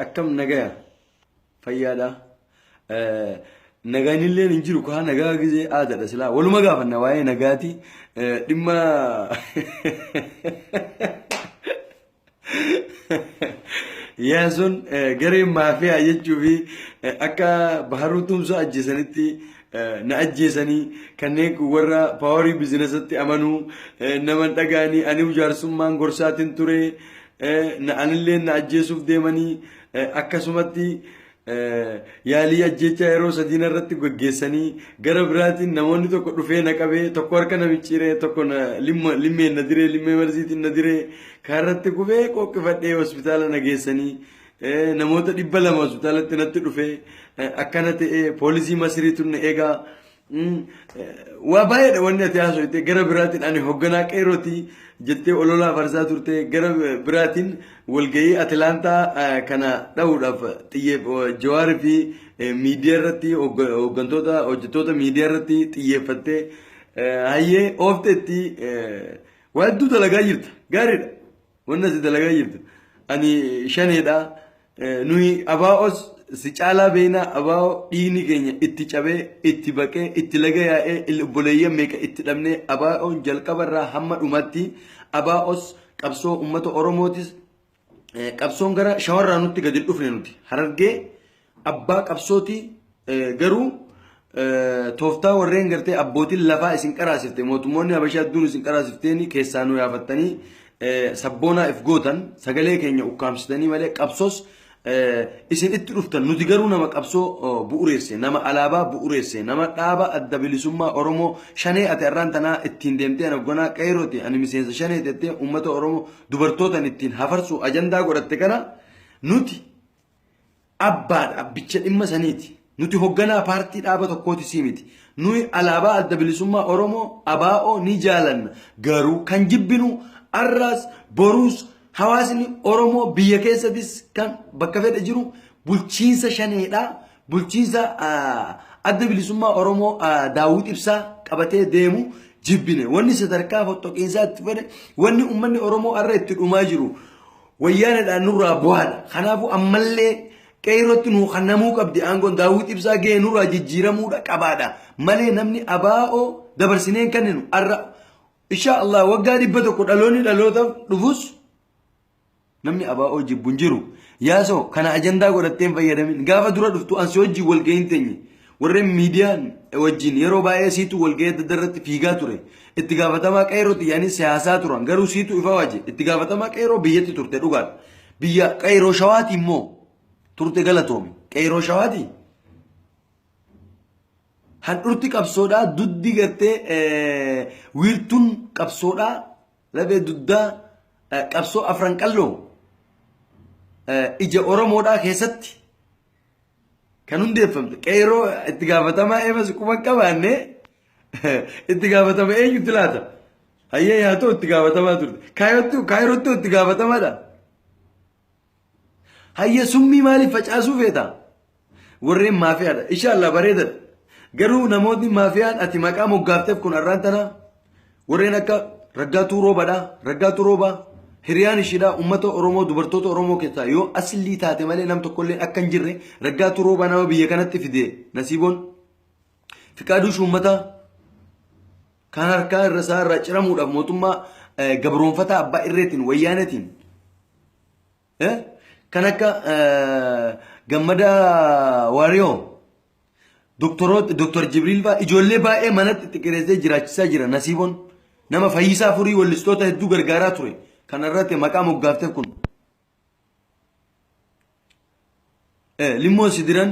akkam nagaya fayyaadha nagaan illee hin jiru kaa nagaa gizee aadaadha silaa waluma gaafanna waa'ee nagaati dhimma yaasun garee maafiyaa jechuu fi akka baharuu tumsoo ajjeesanitti na ajjeesanii kanneen kun warra paawarii bizinasatti amanuu nama hin dhaga'anii aniu jaarsummaan gorsaatiin ture na anillee na ajjeesuuf deemanii akkasumatti yaalii ajjeechaa yeroo sadiina irratti gaggeessanii gara biraatiin namoonni tokko dhufee na qabee tokko harka na micciiree tokko na limma limmeen na diree limmee marziitiin na diree kaarratti kufee qooqqifadhee hospitaala na geessanii Namoota dhibba lama hospitaalatti natti dhufee akkana ta'ee poolisii masiriitu na eegaa waa baay'eedha wanni ati haasofte gara biraatiin ani hogganaa qeerootii jettee ololaa farsaa turte gara biraatiin walgahii atilaantaa kana dha'uudhaaf xiyyeef jawaarii fi miidiyaa irratti hoggantoota hojjettoota miidiyaa irratti xiyyeeffattee hayyee oofteetti waa hedduu dalagaa jirta gaariidha. Wanna si dalagaa jirtu. Ani shaneedha. Nuyi abaa'os si caalaa beeynaa abaa'oo dhiigni keenya itti cabee, itti baqee, itti laga yaa'ee, il- obboleeyyan meeqa itti dhabnee abaa'oon jalqabarraa hamma dhumaatti abaa'os qabsoo uummata Oromootis eh, qabsoon gara shawarraa nutti gadi hin dhufne nuti. Harargee Abbaa qabsooti garuu tooftaa warreen gartee abbootiin lafaa isin qaraasifte mootummoonni habashaa hedduun isin qaraasifteeni keessaa nu yaafattanii sabboonaa if gootan sagalee keenya ukkaamsitanii malee qabsoos isin itti dhuftan nuti garuu nama qabsoo bu'ureesse nama alaabaa bu'ureesse nama dhaaba adda bilisummaa oromoo shanee ati arraan tanaa ittiin deemtee naggonaa qeerooti ani miseensa shanee tettee uummata oromoo dubartootan ittiin hafarsu ajandaa godhatte kana nuti abbaadha, abbicha dhimma saniiti. Nuti hogganaa paartii dhaaba tokkooti sii miti. Nuyi alaabaa adda bilisummaa Oromoo abaa'oo ni jaalanna. Garuu kan jibbinu arraas boruus hawaasni Oromoo biyya keessatis kan bakka fedhe jiru bulchiinsa shaneedha. Bulchiinsa adda bilisummaa Oromoo daawwit ibsaa qabatee deemu jibbine. Wanni sadarkaa foxxoqiinsaa itti fedhe wanni uummanni Oromoo arra itti dhumaa jiru. Wayyaanedhaan nurraa buhaadha. Kanaafuu ammallee Qeeyrootti nuu kannamuu qabdi. Aangoon Daawwit Ibsaa gahee nurraa jijjiiramuudha qabaadha. Malee namni ABO dabarsinee hin kenninu. Arra Inshaa Allah waggaa dhibba tokko dhaloonni dhalootaaf dhufus namni ABO jibbu hin jiru. Yaasoo kana ajandaa godhatteen fayyadamin. Gaafa dura dhuftu ansi hojii wal gahin teenye. Warreen miidiyaan wajjin yeroo baay'ee siitu walga'ii adda addaa irratti fiigaa ture. Itti gaafatamaa qeerrootti yaanii siyaasaa turan. Garuu siitu ifa waje. Itti gaafatamaa qeerroo biyyatti turte dhugaadha. Biyya qeerroo shawaati immoo turte galatoomi. Qeerroo shawaati. Handhurti qabsoodhaa duddi gartee wiirtuun qabsoodhaa lafee duddaa qabsoo afran qalloo ija Oromoodhaa keessatti kan hundeeffamte qeeroo itti gaafatamaa eebas quba qabaanne itti gaafatama eenyutti laata? Hayyee yaa ta'u itti gaafatamaa turte. Kaayottu kaayirottu itti gaafatamaadha. Hayyee summii maaliif facaasuu feeta? Warreen maafiyaadha. Inshaallah bareedadha. Garuu namootni maafiyaan ati maqaa moggaafteef kun har'aan tanaa Warreen akka Raggaatuu Roobadha. Raggaatuu Roobaa hiriyaan ishiidha uummata Oromoo dubartoota Oromoo keessaa yoo aslii taate malee nam tokkollee akka hin jirre Raggaatuu Roobaa nama biyya kanatti fide nasiiboon Fiqaaduu Shuummataa kan harkaa irra isaa irraa ciramuudhaaf mootummaa gabroonfataa abbaa irreetiin wayyaanetiin Eh? Kan akka eh, gammada waariyoo doktoroota doktor Jibriil fa'aa ijoollee baay'ee manatti xixiqqeessee jiraachisaa jira nasiiboon nama fayyisaa furii wallistoota hedduu gargaaraa ture kan irratti maqaa moggaafte kun. Limmoon si diran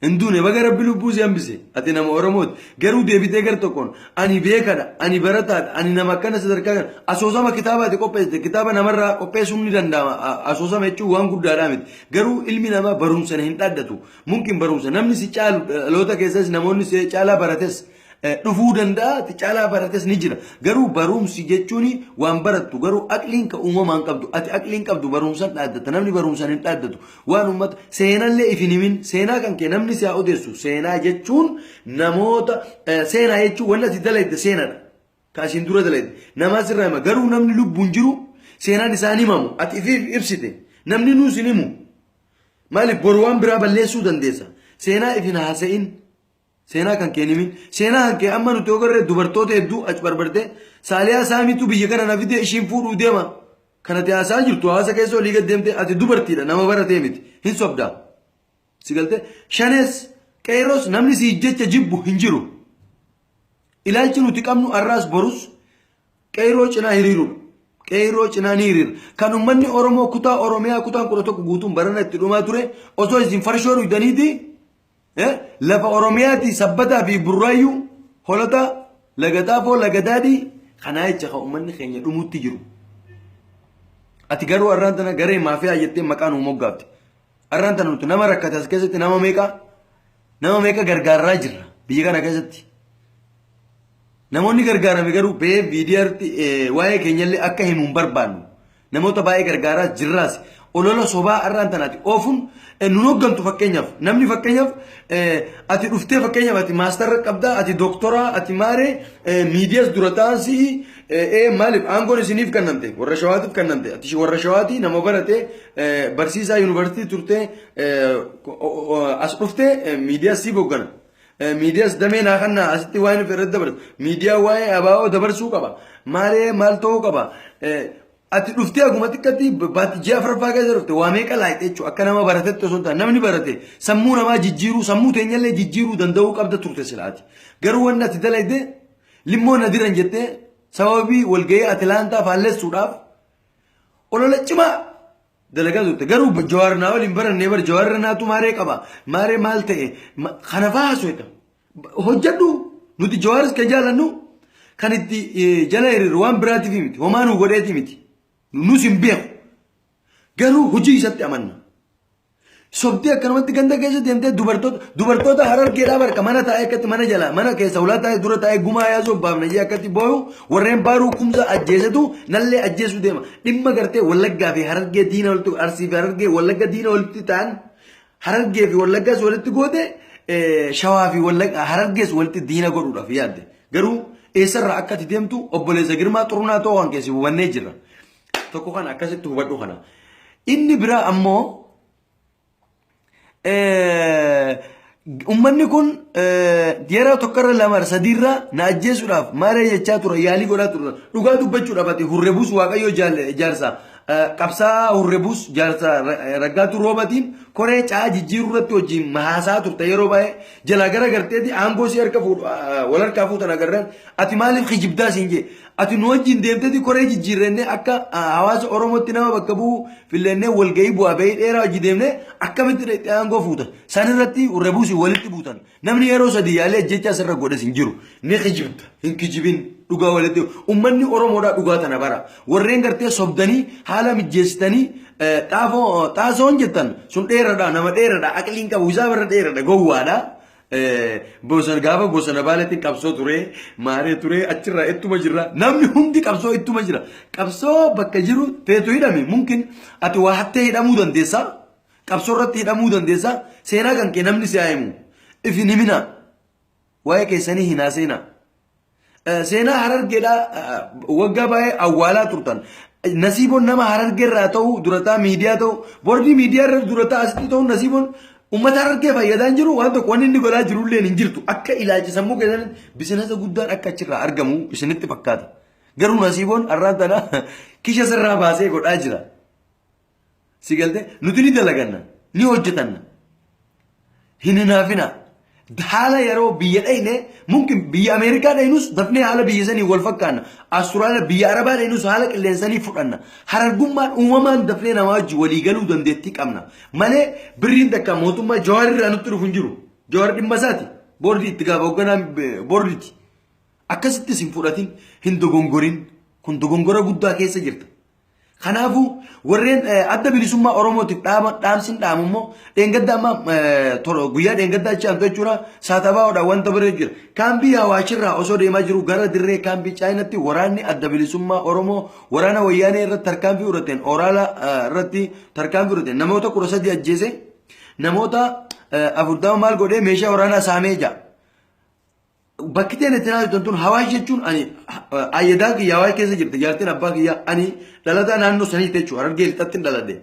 hin duune baga rabbi lubbuu si hambise ati nama oromooti garuu deebitee gar tokkoon ani beekadha ani barataadha ani nama akkana sadarkaa kana asoosama kitaaba ati qopheessite kitaaba namarraa qopheessuun ni danda'ama A- asoosama jechuun waan guddaadhaa miti garuu ilmi namaa barumsan hin dhaddatu mumkin barumsa namni si caalu dhaloota keessas namoonni si caalaa barates dhufuu danda'a ti caalaa barates ni jira garuu barumsi jechuun waan barattu garuu aqliin ka uumamaan qabdu ati aqliin qabdu barumsan dhaaddata namni barumsan hin dhaaddatu waan uummata seenallee if hin himin seenaa kan kee namni si haa odeessu seenaa jechuun namoota eh, seenaa jechuun wanni ati dalayde seenadha ka asiin dura dalayde namaa sirraa hima garuu namni lubbuun jiru seenaan isaan himamu ati ifiif ibsite namni nuus hin himu maaliif boru waan biraa balleessuu dandeessa seenaa if hin haasa'in Seenaa kan kee nimi. Seenaa kan kee amma nuti ogarre dubartoota hedduu achi barbartee saaliyaa saamiitu biyya kana na fidee ishiin fuudhuu deema. Kan ati haasaa jirtu haasa keessa olii gad deemtee ati dubartiidha nama baratee miti. Hin sobdaa. Si galtee shanees qeeroos namni si jecha jibbu hin jiru. Ilaalchi nuti qabnu har'aas borus qeeroo cinaa hiriirudha. Qeeroo cinaa ni hiriira. Kan uummanni Oromoo kutaa Oromiyaa kutaan kudha tokko guutuun barana itti dhumaa ture osoo isin farshoo dhugdaniiti Eh, lafa oromiyaati sabbataa fi burraayyuu holotaa laga xaafoo laga daadhii kanaa jecha kan uummanni keenya dhumutti jiru ati garuu har'aan tana garee maafiyaa jettee maqaa nuu moggaafte har'aan tana nuti nama rakkate as keessatti nama meeqa nama meeqa gargaarraa jirra biyya kana keessatti Namoonni gargaarame garuu ba'ee miidiyaarratti waa'ee keenyallee akka himu hin barbaannu. Namoota baay'ee gargaaraas jirraas. Olola sobaa har'aan tanaati oofuun nun hooggantu fakkeenyaaf. Namni fakkeenyaaf ati dhuftee fakkeenyaaf ati maastarra qabdaa, ati doktoraa, ati maaree miidiyaas dura ta'an si'i ee maaliif aangoon isiniif kennamte warra shawaatiif kennamte ati warra shawaatii nama barate barsiisaa yuunivarsiitii turtee as dhuftee miidiyaas siif hooggana. Miidiyaas damee naa kannaa asitti waan hin fedhe dabarsu. Miidiyaa waa'ee abaa'oo dabarsuu qaba. Maalee maal ta'uu qaba. Ati dhuftee akkuma xiqqatti baatti ji'a afraffaa keessa dhufte waa meeqa laayite jechuudha. Akka nama baratetti osoo hin taane namni barate sammuu namaa jijjiiruu sammuu teenyallee jijjiiruu danda'uu qabda turte silaati. Garuu wanni ati dalayde limmoo na diran jettee sababii walgahii Atilaantaa faallessuudhaaf olola cimaa dalagaa turte garuu jawaar naa waliin barannee bar jawaar irra naatu maaree qaba maaree maal ta'e ma- kana fa'aa haasofna hojjedhu nuti jawaaris kan jaalannu kan itti eh, jala hiriiru waan biraatiif miti homaa nu godheeti miti nus hin beeku garuu hojii isatti amanna Sobdee akkanumatti ganda keessa deemtee dubartoota dubartoota harargeedhaa barka mana taa'ee akkatti mana jala mana keessa ulaa taa'ee dura taa'ee gumaa yaasuu abbaaf nayyee akkatti booyu warreen baaruu kumsa ajjeesetu nallee ajjeesuu deema dhimma gartee wallaggaa fi harargee diina walitti arsii fi harargee wallagga diina walitti ta'an harargee fi wallaggaas walitti goote eh, shawaa fi wallagga harargees walitti diina godhuudhaaf yaadde garuu eessarraa akkatti deemtu obboleessa girmaa xurunaa ta'uu kan keessi hubannee jirra. Tokko kana akkasitti hubadhu kana. Inni biraa ammoo ummanni kun yeroo tokkorra lama sadiirra na ajjeesuudhaaf maaree jechaa ture yaalii godhaa ture dhugaa dubbachuudhaaf ati hurrebuus waaqayyoo jaarsa qabsaa hurrebuus jaarsa raggaatu roobatiin koree caa jijjiiruu irratti wajjin mahaasaa turte yeroo baay'ee jalaa gara garteeti aangoo si harka fuudhu wal harkaa fuutan agarran ati maaliif kijibdaa siin jee Ati nu wajjin deemteeti koree jijjiirrannee akka hawaasa Oromootti nama bakka bu'u fillannee walgahii bu'aa bahii dheeraa hojii deemnee akkamitti dhaqxee aangoo fuuta. San irratti rebuusi walitti buutan. Namni yeroo sadii yaalee ajjechaa sirra godhes hin jiru. Ni kijibda. Hin kijibin. Dhugaa walitti. Ummanni Oromoodhaa dhugaa tana bara. Warreen gartee sobdanii haala mijjeessitanii xaafoo xaasoon jettan sun dheeradha nama dheeradha aqliin qabu isaa barra dheeradha gowwaadha. Bosana gaafa bosana baaleetti qabsoo ture maaree ture achirraa ittuma jirra namni hundi qabsoo ittuma jira qabsoo bakka jiru teetu hidhame mumkin ati waa hattee hidhamuu dandeessa qabsoo irratti hidhamuu dandeessa seenaa kan kee namni si haa himu ifin himina waa'ee keessanii hin haaseenaa. Seenaa harargeedhaa waggaa baay'ee awwaalaa turtan. Nasiiboon nama harargee irraa ta'u durataa miidiyaa ta'u bordii miidiyaa irra durataa asitti ta'u nasiiboon uummata harargee fayyadaan jiru waan tokko wanni inni godhaa jiru illee hin jirtu akka ilaalcha sammuu keessan bisinasa guddaan akka achirraa argamu isinitti fakkaata. Garuu nasiiboon har'aan tana kisha sirraa baasee godhaa jira. Si galte nuti ni dalaganna ni hojjetanna. Hin hinaafinaa. Haala yeroo biyya dhayne mumkin biyya Ameerikaa dhaynus dafnee haala biyya sanii wal fakkaanna. Asturaaliyaa biyya Arabaa dhaynus haala qilleensanii fudhanna. Harargummaan uumamaan dafnee namaa wajji walii galuu dandeettii qabna. Malee birriin takka mootummaa Jawaar irraa nutti dhufu hin jiru. Jawaar dhimma isaati. Boordii itti gaafa hoogganaa eh, boordiiti. Akkasittis hin fudhatin, hin dogongorin. Kun dogongora guddaa keessa jirta. Kanaafuu warreen adda bilisummaa Oromootiif dhaaba dhaamsin dhaamu immoo dheengadda amma guyyaa dheengadda achi aantu jechuudha saatabaa'oodha wanta bira jira. Kaambii hawaashirraa osoo deemaa jiru gara dirree kaambii chaayinatti waraanni adda bilisummaa Oromoo waraana wayyaanee irratti tarkaanfii fudhateen oraala irratti tarkaanfii fudhateen namoota kudha sadii ajjeese namoota afurtama maal godhee meeshaa waraanaa saamee jira. Bakki ta'een itti naasiftan tun hawaasa jechuun ani ayyadaa kiyya hawaasa keessa jirti jaartiin abbaa kiyya ani dhalataa naannoo sanii ta'e jechuudha harargee lixattiin dhaladhe.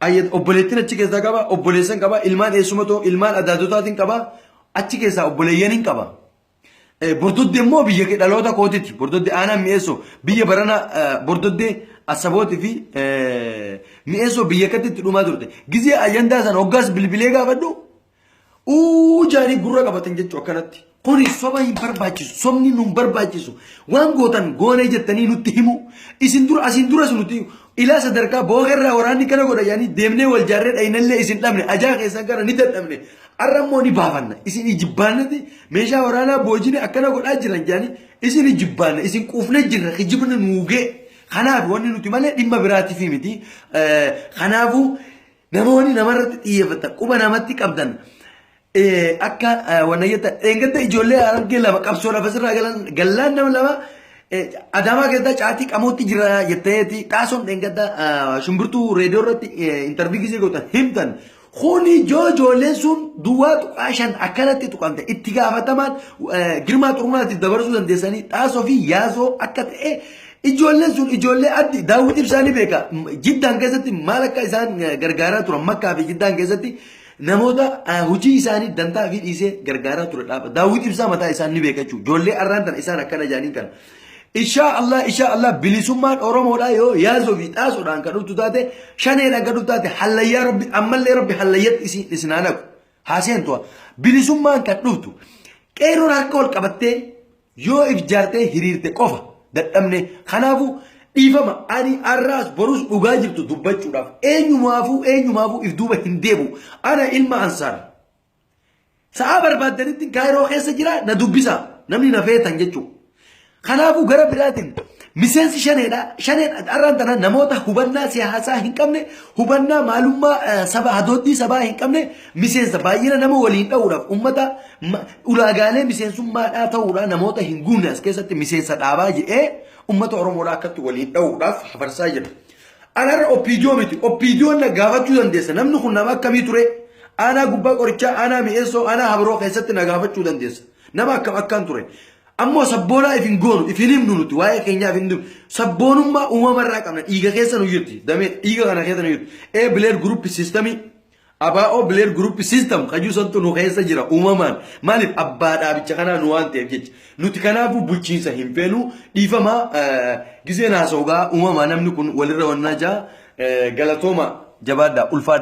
Ayyad obboleettiin achi keessaa qaba obboleessan qaba ilmaan eessuma ta'u ilmaan adaadotaatiin qaba achi keessaa obboleeyyaniin qaba. Bordoddee immoo biyya dhaloota kootiti bordoddee aanaa mi'eessoo biyya barana bordoddee asabootii fi mi'eessoo biyya katti itti dhumaa turte gizee ayyandaa sana hoggaas bilbilee gaafadhu Uu jaanii gurra qabatan jechuu akkanatti. Kuni soba hin barbaachisu. Sobni nun barbaachisu. Waan gootan goonee jettanii nutti himu. Isin dura asiin duras nuti ilaa sadarkaa bookerraa waraanni kana godha yaanii deemnee wal jaarree dhaynallee isin dhabne ajaa keessan kana ni dadhabne. Har'a immoo ni baafanna. Isin ijibbaannati meeshaa waraanaa boojine akkana godhaa jiran jaanii isin ijibbaanna isin quufne jirra kijibni nuugee. Kanaaf wanni nuti malee dhimma biraatiif miti. Kanaafuu Namoonni namarratti xiyyeeffatan quba namatti qabdan akka wanna jettan dheengadda ijoollee argee lama qabsoo lafa sirraa galan gallaan nama lama adaamaa keessaa caatii qamootti jira jetteeti xaasoon dheengadda shumburtuu reediyoo irratti intarvii gisee gootan himtan kuni joo ijoolleen sun duwwaa tuqaa shan akkanatti tuqamte itti gaafatamaan girmaa xurmaatiif dabarsuu dandeessanii xaasoo fi yaasoo akka ta'e Ijoolleen sun ijoollee addi daawwiti ibsaa ni beeka. Jiddaan keessatti maal akka isaan gargaaraa turan makkaa fi jiddaan keessatti namoota hojii isaanii dantaa fi dhiisee gargaaraa ture dhaaba. Daawwiti ibsaa mataa isaan ni beeka jechuudha. Ijoollee arraan tana isaan akkana jaaniin kana. Ishaa Allah ishaa Allah bilisummaan Oromoodhaa yoo yaasoo fi xaasoodhaan kan dhuftu taate shaneedhaan kan dhuftu taate hallayyaa rabbi ammallee rabbi hallayyatti isin isin haa naqu. Haaseen tu'a. Bilisummaan kan dhuftu qeerroon harka wal qabattee Yoo ifjaartee hiriirte qofa dadhabne. Kanaafuu dhiifama ani arraas borus dhugaa jirtu dubbachuudhaaf eenyumaafuu eenyumaafuu if duuba hin deebu. Ana ilma Ansaar. Sa'aa barbaaddanittiin Kaayiroo keessa jira na dubbisa namni na feetan jechuudha. Kanaafuu gara biraatiin miseensi shaneedha. Shaneen arraan tana namoota hubannaa siyaasaa hin qabne, hubannaa maalummaa saba hadooddii sabaa hin qabne, Miseensa baay'ina nama waliin dha'uudhaaf uummata ulaagaalee miseensummaadhaa ta'uudhaa namoota hin guunne as keessatti miseensa dhaabaa jedhee uummata Oromoodhaa akkatti waliin dha'uudhaaf hafarsaa jira. Anarra oppiidiyoo miti. Oppiidiyoon na gaafachuu dandeessa. Namni kun nama akkamii ture? Aanaa gubbaa qorichaa, aanaa mi'eessoo, aanaa habiroo keessatti na gaafachuu dandeessa. Nama akkam akkaan ture. Ammoo sabboonaa ifin goonu, ifin himnu nuti waa'ee keenyaa ifin himnu. Sabboonummaa uumamarraa qabna. Dhiiga keessa nu jirti. Damee dhiiga kana keessa nu jirti. Ee bileed guruupi siistamii Abo Blair Group System kajuu santu nu keessa jira uumamaan maaliif abbaa dhaabicha kanaa nu waan ta'eef jecha nuti kanaafuu bulchiinsa hin feenu dhiifama gizeen haasa'ugaa uumamaa namni kun walirra wannaa jaa galatooma jabaadhaa ulfaadha.